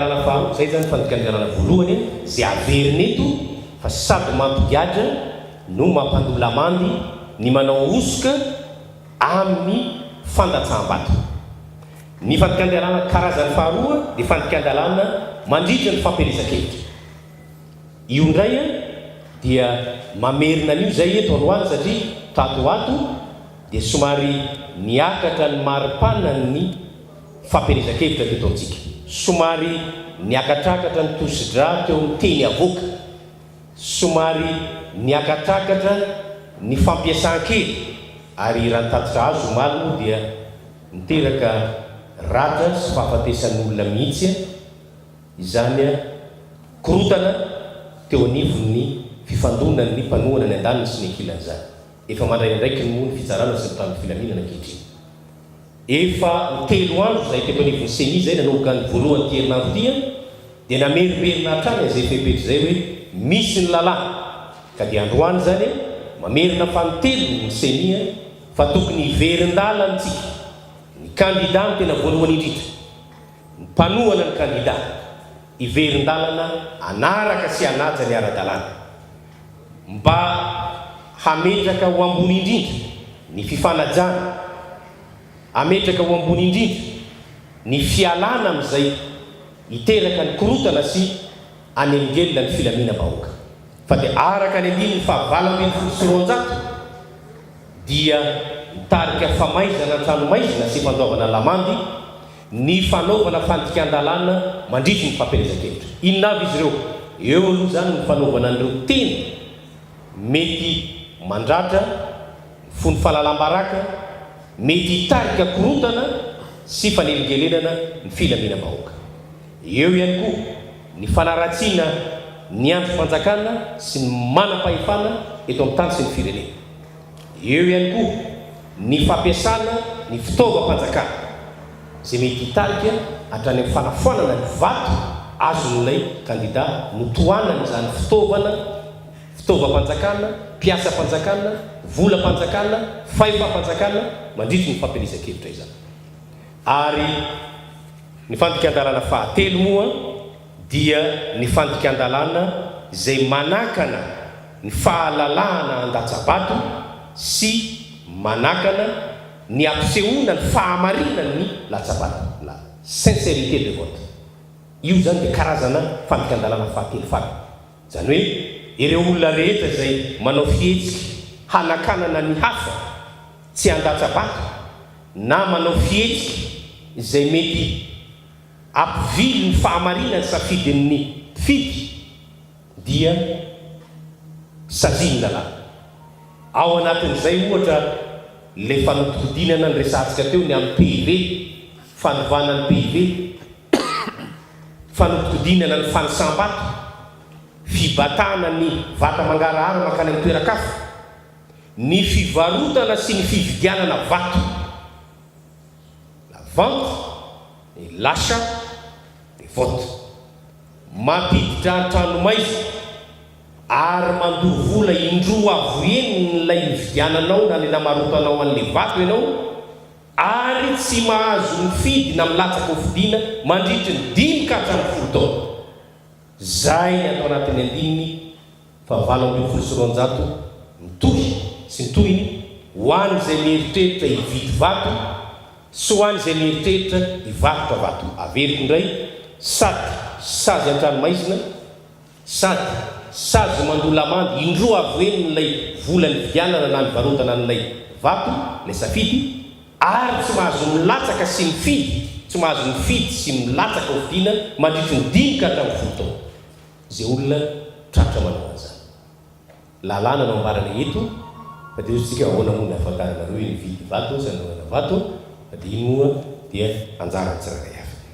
Lalana faharoa, izay izany fandikana ny lalana voalohany izay averina eto fa sady mampigadra no mampandoa lamandy ny manao hosoka amin'ny fandatsaham-bato. Ny fandikan-dalàna karazany faharoa dia fandikan-dalàna mandritra ny fampielezan-kevitra. Io indray dia mamerina an'io izay eto androany satria tato ho ato dia somary niakatra ny maripanan'ny. Fampielezan-kevitra teto amintsika. Somary niakatrakatra ny tosi-drà teo amin'ny teny avoaka. Somary niakatrakatra ny fampiasan-kely ary raha ny tatitra azo omaly moa dia niteraka ratra sy fahafatesan'olona mihitsy izany korontana teo anivon'ny fifandonan'ny mpanohana ny andaniny sy ny ankilany izany. Efa mandray andraikiny moa ny fitsarana sy ny mpitandro filaminana ankehitriny. Efa ho telo andro izay teto anivon'ny Ceni izay nanomboka ny voalohany ity herinandro ity an, dia namerimberina hatrany izay fepetra izay hoe misy ny lalàna, ka dia androany izany an, mamerina fanintelony ny Ceni an, fa tokony hiverin-dala amintsika ny kandida ny tena voalohany indrindra, ny mpanohana ny kandida, hiverin-dalana hanaraka sy hanaja ny ara-dalàna. Mba hametraka ho ambony indrindra ny fifanajana, hametraka ho ambony indrindra ny fialana amin'izay hiteraka ny korontana sy hanelingelina ny filaminam-bahoaka. Fa dia araka ny andininy faha valo ambin'ny folo sy roanjato dia mitarika famaizana an-tranomaizina sy fandoavana lamandy, ny fanaovana fandikan-dalàna mandritry ny fampielezan-kevitra. Inona avy izy ireo? Eo aloha izany ny fanaovana an'ireo teny mety mandratra, mifono fahalalam-baraka, mety hitarika korontana sy fanelingelenana ny filaminam-bahoaka. Eo ihany koa ny fanaratsiana ny andrim-panjakana sy ny manam-pahefana eto amin'ny tany sy ny firenena. Eo ihany koa ny fampiasana ny fitaovam-panjakana izay mety hitarika hatrany amin'ny fanafoanana ny vato azon'ilay kandida notohanan'izany fitaovana, fitaovam-panjakana, mpiasam-panjakana, volam-panjakana, fahefam-panjakana mandritry ny fampielezan-kevitra izany. Ary ny fandikan-dalàna fahatelo moa. dia ny fandikan-dalàna izay manakana ny fahalalahana handatsa-bato sy manakana ny hampisehoana ny fahamarinan'ny latsa-bato, la sincérité de vote. Io izany dia karazana fandikan-dalàna fahatelo farany. Izany hoe ireo olona rehetra izay manao fihetsika hanakanana ny hafa tsy handatsa-bato na manao fihetsika izay mety. Ampivily ny fahamarinan'ny safidin'ny mpifidy dia sazian'ny lalàna. Ao anatin'izay ohatra ilay fanodikodinana niresahantsika teo ny amin'ny PIB, fanovana ny PIB, fanodikodinana ny fanisam-bato, fibatana ny vata mangarahara mankany amin'ny toeran-kafa, ny fivarotana sy ny fividianana vato. La vente et l'achat des votes. Mampiditra an-tranomaizina ary mandoa vola indroa avo enin'ilay nividiananao na ilay namarotanao an'ilay vato ianao ary tsy mahazo mifidy na milatsaka ho fidiana mandritry ny dimy ka hatramin'ny folo taona. Izay ny ato anatin'ny andininy fa valo ambin'ny folo sy roanjato mitohy sy ny tohiny ho an'izay mieritreritra hividy vato sy ho an'izay mieritreritra hivarotra vato. Averiko indray, sady sazy an-tranomaizina sady sazy mandoa lamandy indroa avy ho enin'ilay vola nividianana na nivarotana an'ilay vato ilay safidy, ary tsy mahazo milatsaka sy mifidy, tsy mahazo mifidy sy milatsaka hovidiana mandritry ny dimy ka hatramin'ny folo taona. Izay olona tratra manana an'izany. Lalàna no ambarany eto fa dia hoy isika ahoana moa ny ahafantaranareo hividy vato sa ny manana vato fa dia iny moa dia anjaran'ny tsirairay avy.